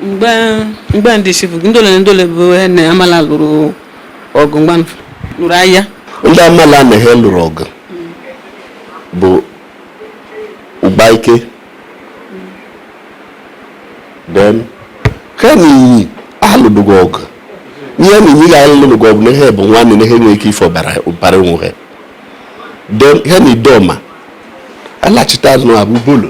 mgbe mgbe ndị chifu ndole na ndole bụ ha na amala lụrụ ọgụ mgbe a lụrụ agha ndị amala na ha lụrụ ọgụ bụ ụgbaike then ha na iyi alụdụgo ọgụ ha na iyi ga-alụdụgo ọgụ na ha bụ nwanne na ha nwere ike ịfụ ọbara onwe ha then ha na idoma alachita azụ abụ obolo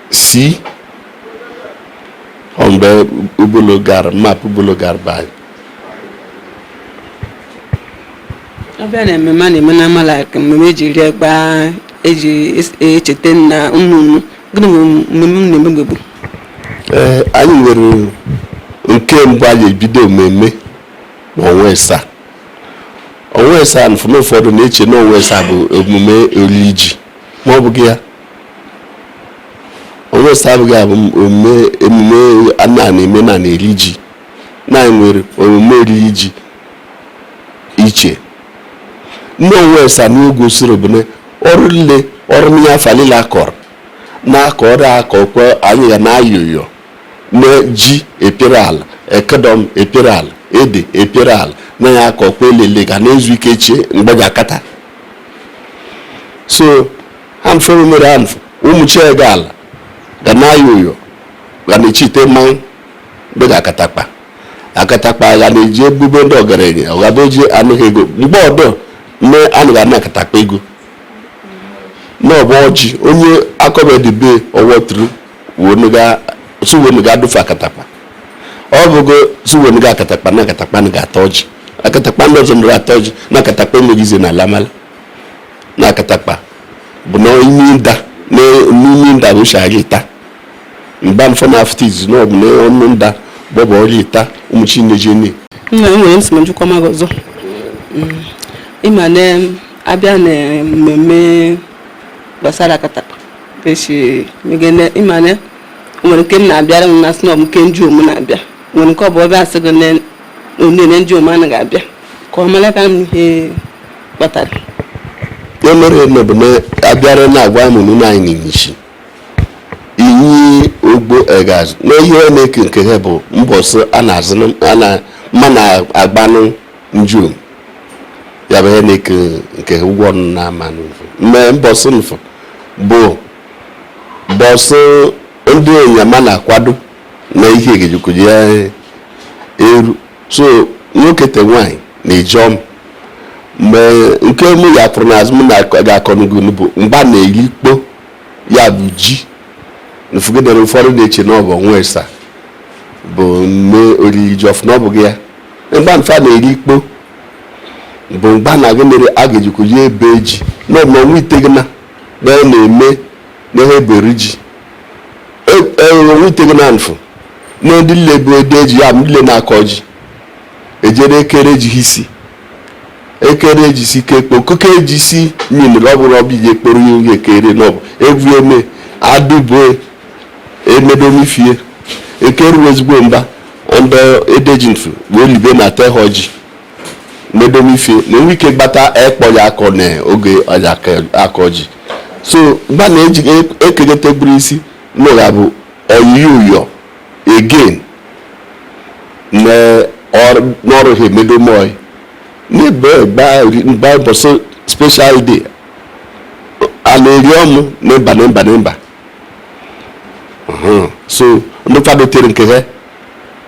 si mgbe obolo gara map obolo gara be anyị abịa na mmemme a na-eme na amala mmemme eji rie gbaa eji echeta na ụmụnụ gịnị bụ mmemme a na-emegbe bụ ee anyị nwere nke mbụ anyị ebido mmemme na ọnwa ịsaa ọnwa ịsaa na ụfọdụ na-eche na ọnwa ịsaa bụ omume olili ji ma ọ bụghị ya ọnwa ịsaa abụghị abụ omume emume a na-eme na na-eri ji na nwere omume oriri ji iche ndị ọnwa ịsaa na-egosiri bụ na ọrụ niile ọrụ n'ihe afa niile akọrọ na-akọ ọrụ akọ kwe anyị ga na-ayọyọ na ji epere ala ekedọm epere ala ede epere ala na ya akọ kwe elele ga na-ezu ike chie mgbe ga-akata so ha mfe mere ha mfe ụmụ chiege ala ga na-ayọ uyo ga na-echite mmanwụ mgbe ga akatakpa akatakpa ga na-eji ebube ndị ọgaranya ọ ga eji anụghị ego mgbe ọdọ nne anụ ga na-akatakpa ego na ọbụ ọjị onye akọbedibe ọwọtụrụ suwenuga adụfe akatakpa ọ bụgo suwenuga akatakpa na akatakpa na ga-ata ọjị akatakpa ndị ọzọ mere ata ọjị na akatakpa emeghị ize n'ala amala na akatakpa bụ na ime nda n'ime nda bụ shara ita mgbe mfọ na afụta izu na ọbụ n'ọnụ nda gbọbụ ọrịa ita ụmụ chineje ni nna m nwere nsị ma njikwa maghị ọzọ mm. ịma na abịa na mmemme gbasara akatakpa echi megene ịma na nwere nke a na-abịara m na snọb nke ndịom na-abịa nwere nke ọ bụ ọbịa asị gị onene ndịom anaghị abịa ka ọ mara ka m ihe kpatara ihe mere eme bụ na abịara na-agwa m nụ anyị n'inyichi inyi ogbo egazi na ihe ọ na-eke nke ha bụ mbọsị a na-azụ a na mma na-agbanụ ndịom ya bụ ihe na-eke nke ha ụgwọ ọnụ na-ama n'ụfụ mme mbọsị mfụ bụ mbọsị ndị onyama na-akwado na ihe e ga-eji ke ji eru so nwoke te nwaanyị na-eji ọm mgbe nke mụ ya pụrụ n'azụ m ga-akọ n'ugwu bụ mgba na-eri ikpo ya bụ ji nfugidere ụfọdụ na-eche na ọ bụ ọnwa ịsa bụ mme oriri ji ọfụ na ọ bụghị ya mgba mfụ a na-eri ikpo bụ mgba na gị mere a ga-eji ke ji ebe ji na ọnwa itegina na ọ na-eme nehe eberi ji ọnwa itegina mfụ na ndị nle bụ edeji ya nle na-akọ ji ejere ekere ji isi ekere ji si ke ekpo kuke ji si nyin rọbụ rọbụ ihe ekporo ihe ekere n'ọbụ ebu eme adịbụ emedonifie ekeru ezigbo mba ndị edeji mfụ wee libe na-atahọ ji medomife na e nwee ike gbata ikpo ya akọ na oge ọ ja-akọ ji so mgbe na eji ekenyete bụrụ isi n'ụgha bụ oyiyi ụyọ again n'ọrụ ha emedomoy n'ebe gba ụbọchị special day a na-eri ọmụ na mba na mba na mba so ndị kwadotere nke ha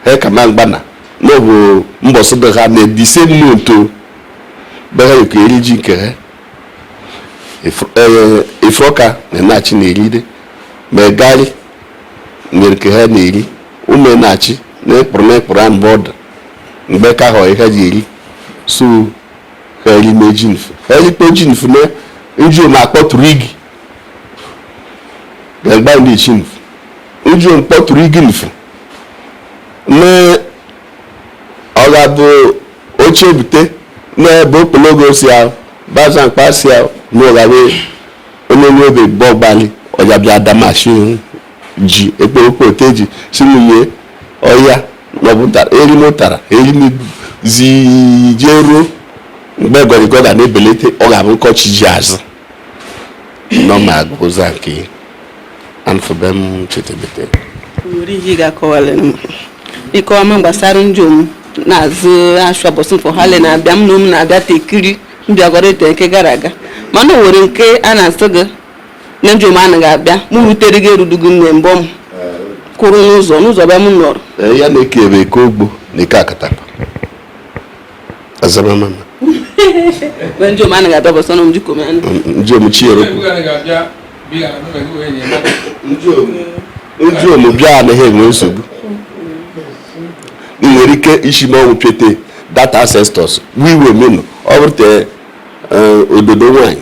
ha kama mgba na n'ọbụ mbọsị be ha na the same month o be ha yekọ eri ji nke ha Ifuroka na Enachi na-eride Ụmụegali yeri nke ha na-eri Ụmụenachi na mkpụrụ na mkpụrụ a mgbe ọdụ mgbe ka ahụ ha ji eri so ha eri mee ji mfụ ha erikpe ji mfụ na nju ma akpọtụrụ igi gagba ndị ishi mfụ uju mkpọtụrụ igi mfụ na ọ ga-abụ oche ebute n'ebe okpologo si ahụ baza mkpa si ahụ na ụghawe onye nwe obe bọ gbalị ọja bịa damashi ji ekpokote ji si nwunye ọya maọbụ tara eri m tara eri m zi jee ruo mgbe gọrịgọ ga na-ebelite ọ ga-abụ nkọchi ji azụ nọma agụza nke anfụbe m chetebete nwere ihe ị ga-akọwara m ịkọwa m gbasara njom na-azụ ashụa mbọsị mfụ ha le na-abịa m na ụmụ na-abịa tekiri mbịagọrọ eto nke gara aga mana o nwere nke a na-asị gị na njom anaghị abịa mụ rutere gị erudugo m na mbọ m kwụrụ n'ụzọ n'ụzọ bịa m nọrọ Eh, ya na eke ebe eke ogbo na eke Akatakpa azaba mama njom anaghị dobo sono mjiko mena njom chiro njo njom bịa na he enwe nsogbu i nwere ike isi ma ọnwụ pete data ancestors wiwe menu ọ bụrụ te eh, ododo nwanyị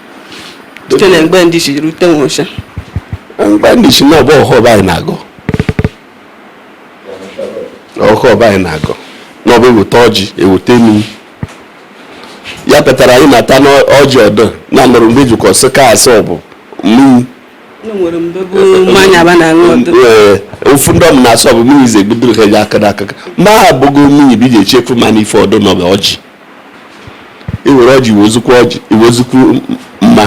site na mgbe ndị ishi rute nwocha mgbe ndị ishi na ọbụ ọhọ anyị na-agọ ọhọ be anyị na-agọ na ọbụ eweta ọjị eweta mmiri ya pụtara anyị na-ata n'ọjị ọdọ na nụrụ mgbe ejikọ sị ka asị ọbụ mmiri ofu ndị ọm na-asọ bụ mmiri ize gbudoro ha ya aka n'aka ma ha abụgo mmiri bụ iji echefu ma n'ife ọdọ na ọbụ ọjị iwere ọjị iwezukwu mma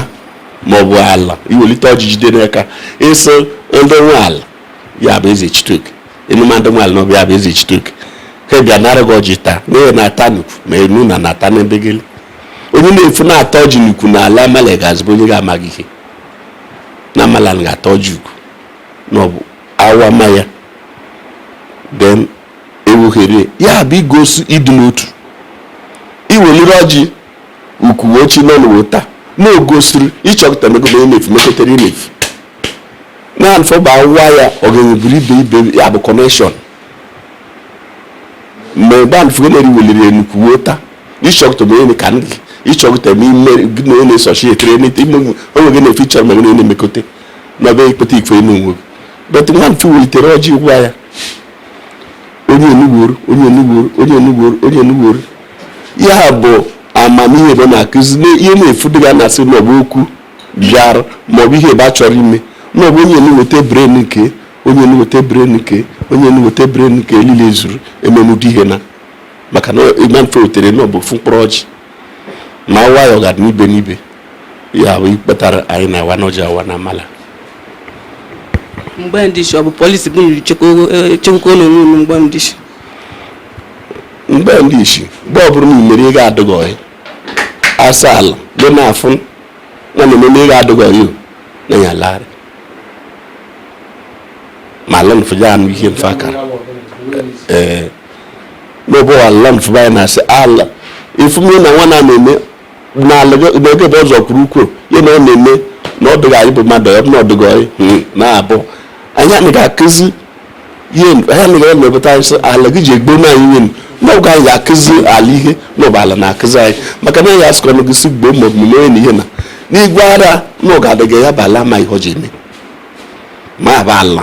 ma ọ bụ ala iwelite ọjị jide n'aka ịsị ndị nwe ala ya bụ eze chitoke emume ndị nwe ala n'ọbụ ya bụ eze chitoke ha bịa nara gị ọjị taa na ha na-ata n'ukwu ma enu na na-ata n'ebe gị onye na-efu na-ata ọjị n'ukwu na ala Amalla Egazi bụ onye ga-amaghị ihe na Amalla ga-ata ọjị ukwu na ọ bụ awa ma ya then ewughere ya bụ igosi ịdị n'otu iweliri ọjị ukwu ochi nọ n'ụwa taa na ogosiri ịchọpụta megide inefu meketere inefu na nfọba nwa ya ogenye buru ibe ibe ya bụ connection mgbe gbanfụgo na eriweliri enukwu wuo taa ịchọpụta ma onye ka ndị ịchọpụta ma ime gị na onye na-esochi etere n'ite ime onwe gị na-efe ịchọrọ ma onye na-emekọta n'ọbịa ikpeta ikwe n'onwe gị but nwa nfụ welitere ọjị waa ya onye enugboro onye enugboro onye enugboro onye enugboro ihe a bụ amamihe ebe na-akụzi ihe na-efu dịga na-asị na ọbụ okwu bịara maọbụ ihe ebe a chọrọ ime maọbụ onye enuweta bren nke onye enuweta bren nke onye enuweta bren nke elile zuru emenụdị ihe na maka na ịma mfe wetere na ọ bụ ofu mkpụrụ ọjị ma awaa ya ọ ga-adị n'ibe n'ibe ya bụ ihe kpatara anyị na-awa n'ọjị awa na Amalla mgbe ndị ishi ọ bụ polisi bụ nri chekwakwa na onwe mgbe ndị ishi mgbe ndị ishi mgbe ọ bụrụ na imere nke adịghị ọyị asị ala dị na-afụ na na eme nke adịghị ọyị na ya larị ma ala nfụ ja-anụ ihe nfụ akara ee na ọ bụ ala nfụ be anyị na-asị ala ị fụma na nwa na-eme n'ala n'oge bụ ọzọ kwuru kwuo ya na ọ na-eme na ọ dịghị anyị bụ mmadụ ọ na ọdịghị anyị hmm, na-abụ anyị anaghị akụzi ihe anyị anaghị emepụta anyị sị ala gị ji egbo na anyị nwenu n'oge anyị ga-akụzi ala ihe n'ọbụ ala na-akụzi anyị maka na ya asịkọ na gịsi gboo ma omume onye na ihe na n'igwe ara nke adịghị ọyị bụ ala ma ihe ọ ji eme ma bụ ala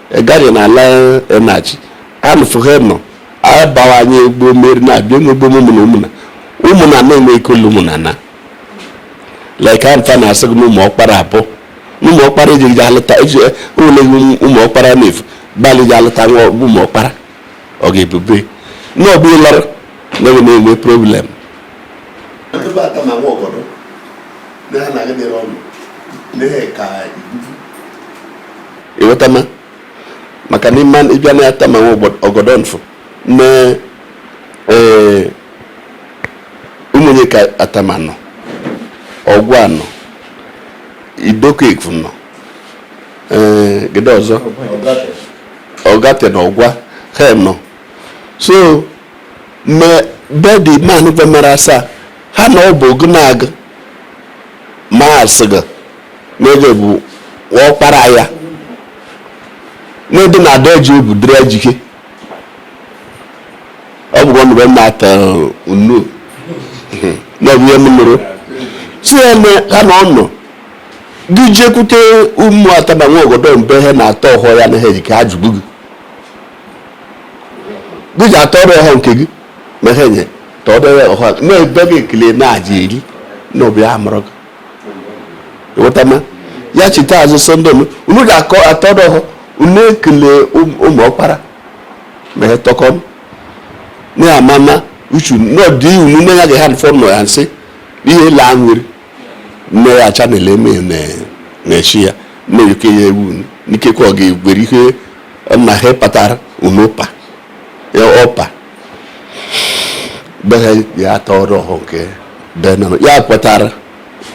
egari na ala enachi anụfụghị nọ abawanye egbo mmeri na-abịa egbo ụmụnna ụmụnna ụmụnna na-enwe ike ụlọ ụmụnna na like amfa na-asị gị na ụmụ ọkpara abụ ụmụ ọkpara ejighị alụta eji ụlọ ụmụ ọkpara na-efu gbalị ji alụta nwa ụmụ ọkpara ọ ga-ebube na ọ bụrụ lara na ọ na-enwe problem ịghọtama maka na ịma ịbịa na atama nwa ogodo nfụ na ee ụmụnye ka atama nọ ọgwa nọ idoko efu nọ ee eh, gede ọzọ ọgate na ọgwa ha nọ so me bedi man gwa mere asaa ha na ọ bụ ogunag ma asịga n'oge bụ ọkpara ya n'ebe na ada eji obu dịrị ejike ọ bụkwa mgbe m na-ata unu na ọ bụ ihe m nụrụ si ya ha na ọ nọ gị jekwute ụmụ atama nwa ogodo mbe ha na-atọ ọhọ ya na ha eji ka ha jụgbu gị duji atọdọ ọhọ nke gị ma ha nye tọdere ọhọ na-ebe gị ekele na-aja eri na obi ha mụrụ gị ịghọtama ya chita azụ sọnde m unu ji akọ atọdọ ọhọ unu ekele ụmụ ọkpara ma ha tọkọ m na-amama uchu n'ọdịnihu na ya ga ha fọ nọ ya nsị ihe laa nwere nne ya acha na eleme na-echi ya nne ya oke ya ewu n'ikekwe ọ ga-ewere ihe na ha kpatara unu ọpa ya ọpa be ha ya atọdọ ọhọ nke be nọ ya kpatara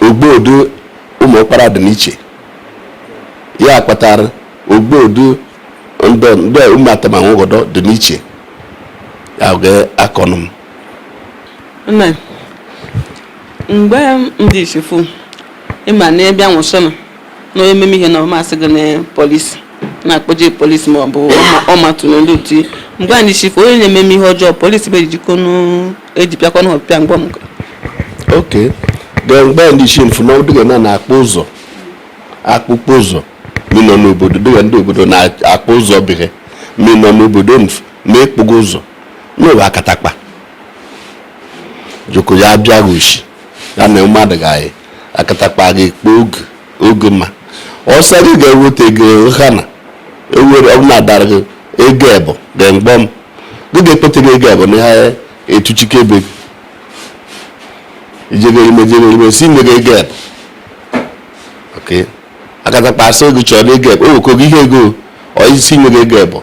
ogbodo ụmụ ọkpara dị n'iche ya kpatara ogbodo ndị ụmụ atama nwa ogodo dị n'iche ya ga-akọnụ m mgbe ndị ishi fụ ịma na ebe anwụchana na onye meme ihe na ọmasị gị na polisi na-akpọje polisi ma ọ bụ ọmatụ n'olu ti mgbe ndị ishi fụ onye na-ememe ihe ọjọọ polisi bụ ejikọ ejipịakọ na ọpịa mgbe m ok then mgbe ndị ishi fụ na ọdịga na na-akpụ ụzọ akpụkpọ ụzọ minọ n'obodo dịga ndị obodo na-akpụ ụzọ bịa minọ n'obodo na-ekpụgo ụzọ na ọ bụ akatakpa joko ya bịa goshi ya na mmadụ ga-eyi akatakpa gị kpọọ oge oge ma ọsọ gị ga-eweta ego ha na ewere ọ bụ na adara gị ego ebo ga mgbọ m gị ga-ekpete gị ego ebo na ha etuchike ebe gị ijegere ime jegere ime si nye gị ego ebo akatakpa asị gị chọrọ ego ebo o wekọ gị ihe ego ọ isi nye gị ego ebo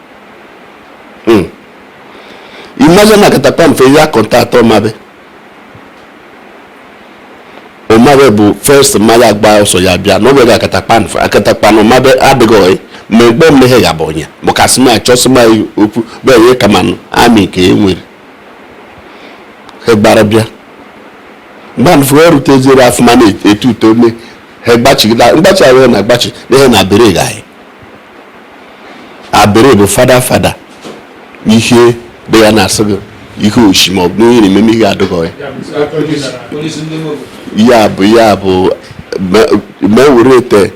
hmm. imagine na akatakpa nfụ ya kọntaktị ọmabe ọmabe bụ first maa agba ọsọ ya bịa na ọbịa akatakpa nfụ akatakpa na ọmabe adịghị ọyị ma egbe mmehie ya bụ onye bụ kasị na achọsị ma okwu bụ enye kama amị ka e nwere ha gbara bịa mgbe nfụ erute zere afụma na-eto uto nne ha gbachigide mgbachi ahụ na-agbachi na ihe na abere anyị abere bụ fada fada ihe dị ya na-asị gị ihe oshi ma ọ bụ ihe na-eme ihe adịghị ya ya bụ ya bụ ma ewere ete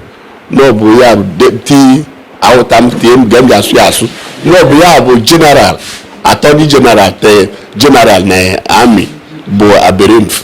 na ọ bụ ya bụ deputy awụta m tie m ga m ga-asụ ya asụ na ọ bụ ya bụ general attorney general attorney general na amị bụ abere nfụ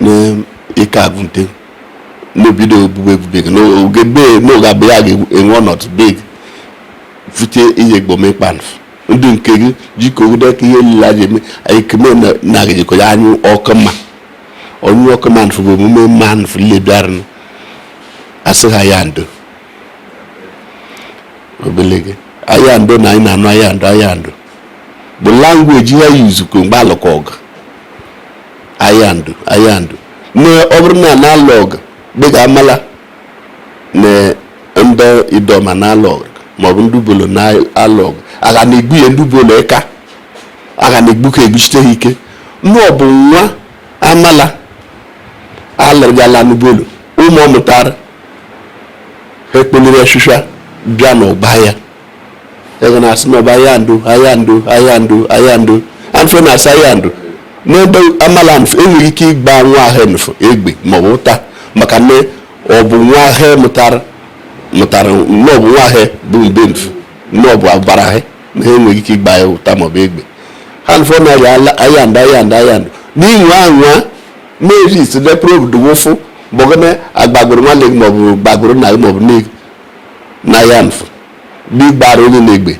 n'ike agụnte n'obido ebube ebube gị n'oge bee n'oge abụ ya ga-enwe ọnọdụ bee gị fute ihe gbome kpanf ndị nke gị jikọ ogide ka ihe niile a ji eme anyị keme na na gị jikọ ya anyụ ọkụ mma onye ọkụ mma nfụ bụ emume mma nfụ niile bịara nụ asị ha aya ndo obele gị aya ndo na anyị na-anụ aya ndo aya ndo bụ language ha yuzukọ mgbe alụkọ ọgụ aya ndo aya ndo na ọ bụrụ na na-alụ ọgụ dịka Amalla na ndị Idoma na-alụ ọgụ maọbụ ndị Obollo na-alụ ọgụ a ga na-egbu ya ndị Obollo ka a ga na-egbu ka egbuchite ha ike na ọ bụ nwa Amalla alụrụgala n'Obollo ụmụ ọ mụtara ha ekpeliri ọchịcha bịa n'ọgbọ aya a ga na-asị na ọ bụ aya ndo aya ndo aya ndo aya ndo nfụ na-asị aya ndo n'ebe Amalla nfụ enweghị ike ịgba nwa ha nfụ egbe ma ọ bụ ụta maka na ọ bụ nwa ha mụtara mụtara na ọ bụ nwa ha bụ mbe nfụ na ọ bụ ọbara ha na ha enweghị ike ịgba ya ụta ma ọ bụ egbe ha nfụ na aya ndo aya ndo aya ndo n'ị nwaa anwa na-eri isi lepụrụ obodo wụfụ bọgana agbagburu nwanne gị maọbụ gbagburu nna gị maọbụ nne gị na ya nfụ bụ ị gbara onye na-egbe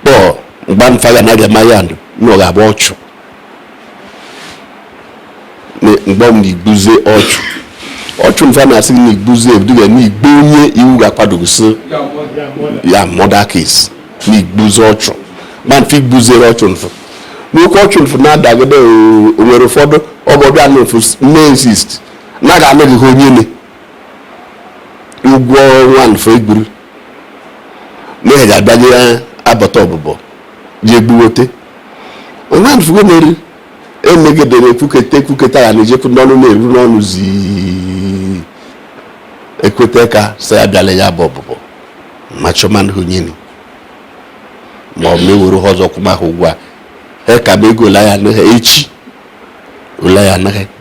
kpọọ mgbe nfụ ga na-aga ma aya ndo na ọ ga-abụ ọchụ mgbe m na igbuze ọchụ ọchụ nfụ na-asị na igbuze ebuduga na igbu onye iwu ga-akwadogosi ya murder case na igbuze ọchụ ma nfụ igbuzere ọchụ nfụ n'oke ọchụ nfụ na-adagide onwere ụfọdụ ọgọbịa na nfụ na-exist na ga-anaghị onye ne ụgwọ nwa nfe egburu na ya ga-abịanye ya abata ọbụbọ ji egbuwote nwa nfugo na-eri emegidere ekwuketa ekwuketa ya na-ejekwu n'ọnụ na-eru n'ọnụ zii ekweta ka sị ya bịala ya bụ ọbụbọ ma chọmanụ hụnyeni ma ọ mewere ha ọzọ kwụma ha ụgwọ a ha ka ma ego ole ya anaghị echi ole ya anaghị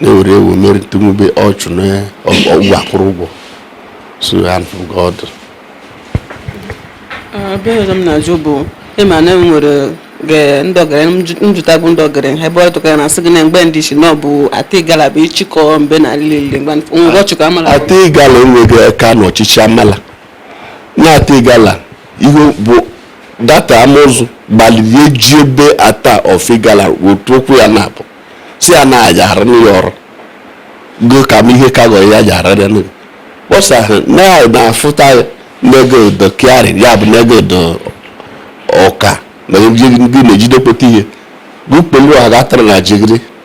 na-ewere ewu mere tumube ọchụ na ọgwụ akwụrụ ụgwọ so hand from God Ebe ọzọ m na-ajụ bụ ịma na enwere ge- ndị ọgaranya njụta bụ ndị ọgaranya ebe ọ tụkara na asị gị na mgbe ndị isi na ọ bụ Ata Igala bụ ịchịkọ mbe na lile mgbe ngwa ọchịkọ Amala Ata Igala enweghị aka n'ọchịchị Amala Na Ata Igala, ihe bụ data Amụzụ gbaliri ejebe Ata of Igala otu okwu ya na-abụ si ya na ajaharịnụ ya ọrụ go ka m ihe ka gọrọ ya ajaharịrịnụ ya. Kpọsa ha na ya na-afụta ya n'ego odo kịarị ya bụ n'ego odo ọka na ndị na-ejidekpụta ihe gụkpelu ọha gatara na jigiri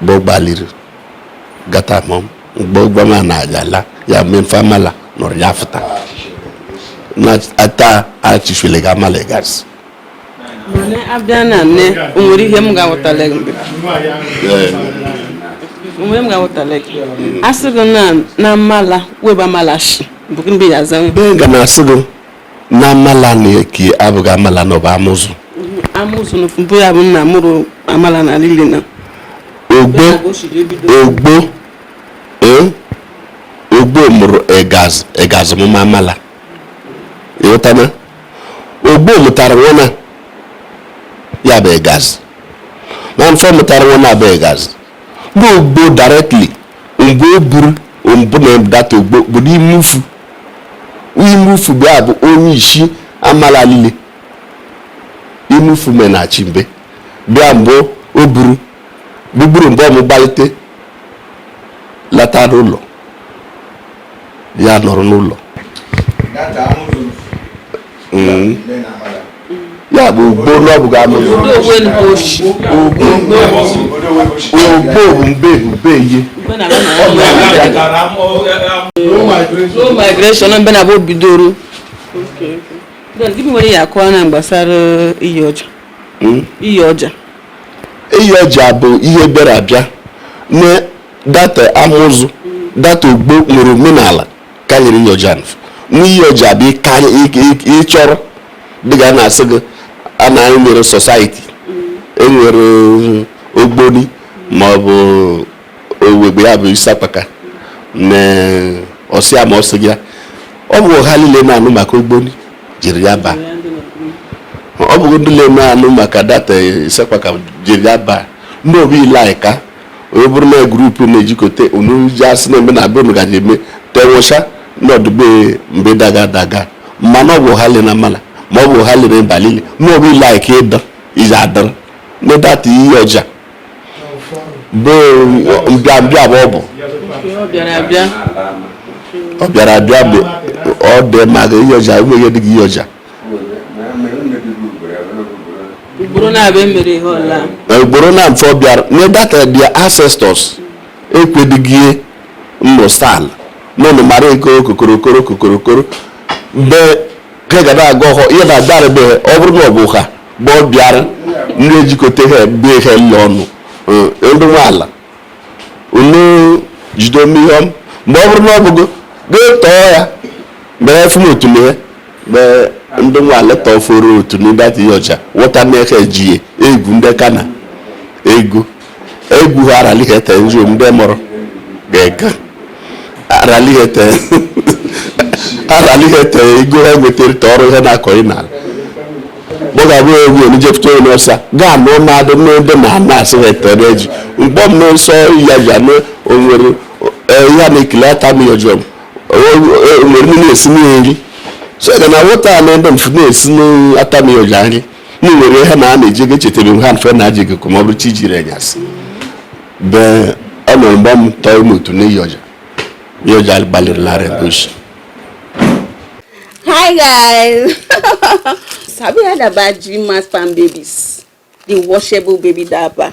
mgbe ọ gbaliri gata mọ mgbe ụgbọ ma na-agala ya mgbe mfe Amala nọrọ ya fụta na Ata achịchụle ga Amala Egazi Mana abịa na nne o nwere ihe m ga-awụtala gị mgbe onwe m ga-awụtala gị a sị gị na na Amala webe Amala shi bụ gị mgbe ya aza nwe Benga na asị gị na Amala na-eki abụghị Amala na ọ bụ Amụzụ Amụzụ na mbụ ya bụ nna mụrụ Amala na lile na Ogbo Ogbo eh? Ogbo mụrụ Egaz Egaz mụma Amala ịghọtana Ogbo mụtara nwana ya bụ Egaz man afụ mụtara nwana bụ Egaz bụ Ogbo directly mgbe o buru mbụ na data Ogbo obodo Imufu Imufu bụ ya bụ onye isi Amala lile Imufu menachi mbe bịa mgbe o buru gbugburu mgbe ọmụ gbalite lata n'ụlọ ya nọrọ n'ụlọ mm. ya bụ Ogbo na ọ bụghị Amụzụ Ogbo bụ mbe ube ihe migration mbe na bụ bidoro gịnị nwere ya akọwa na gbasara iyi ọja hmm? iyi ọja iyi ọja bụ ihe bịara abịa na data Amụzụ data Ogbo nwere omenala karịrị iyi ọja n'iyi ọja bụ ịchọrọ dị ka na-asị gị a na anyị nwere society e nwere ogboni ma ọ bụ owegbe ya bụ isi akpaka na ọsịa ma ọsị ya ọ bụ ha niile na-anụ maka ogboni jiri ya baa ọ bụ ndị na-anụ maka data isi akpaka jiri ya baa ndị obi ile anyị ka onye bụrụ na group na-ejikọta unu ji asị na-eme na be unu gaji eme tenwụcha n'ọdụbe mbe daga daga mmanụ ọ bụ ha le na mala ma ọ bụ ha lere balili ma ọ bụ ile anyị ka ịdọ iji adọrọ na data iyi ọja bụ mbịa mbịa bụ ọ bụ ọ bịara abịa ọ dị maka iyi ọja enweghị dịghị iyi ọja ugboro na-abụ emere ihe ọla ugboro na mfe ọ bịara na data their ancestors ekwedịghị nnụsal n'ụlọ mara eke okokorokoro kokorokoro mgbe ka ga na-aga ọhọ ihe na adarabeghị ọ bụrụ na ọ bụ ha bụ ọ bịara ndị ejikọta ha ebe ihe nna ọnụ ndị nwe ala unu jide ome ihe ọma mgbe ọ bụrụ na ọ bụgo gị tọọ ya mee fụm otu na ya mee ndị nwe ala tọforo otu na data iyi ọja wọta n'eke ji egwu ndị kana egwu egwu ha aralighete nri ndị mụrụ ga-eka aralighete ego ha nwetara ta ọrụ ihe na-akọ ị na mụ ga-abụ egwu onye jepụta onye ọsa gaa anụ mmadụ n'ebe na ana asị ha etere eji mgbe m n'ụsọ ya ji anụ onwere ya na-ekele ata m iyi ọja m onwere m na-esi nri so ga na wọta na ebe mfu na-esi n'ata m iyi ọja nri na nwere ihe na a na-eji ego echetara m ha mfe na aji gịkụ ma ọ bụrụ chi jiri anyasị bee ọ nọrọ mgbe m tọọ ime otu n'iyi ọja iyi ọja gbalịrị narị gosi Hi guys! Have you heard about G-Mass Farm Babies, the washable baby diaper.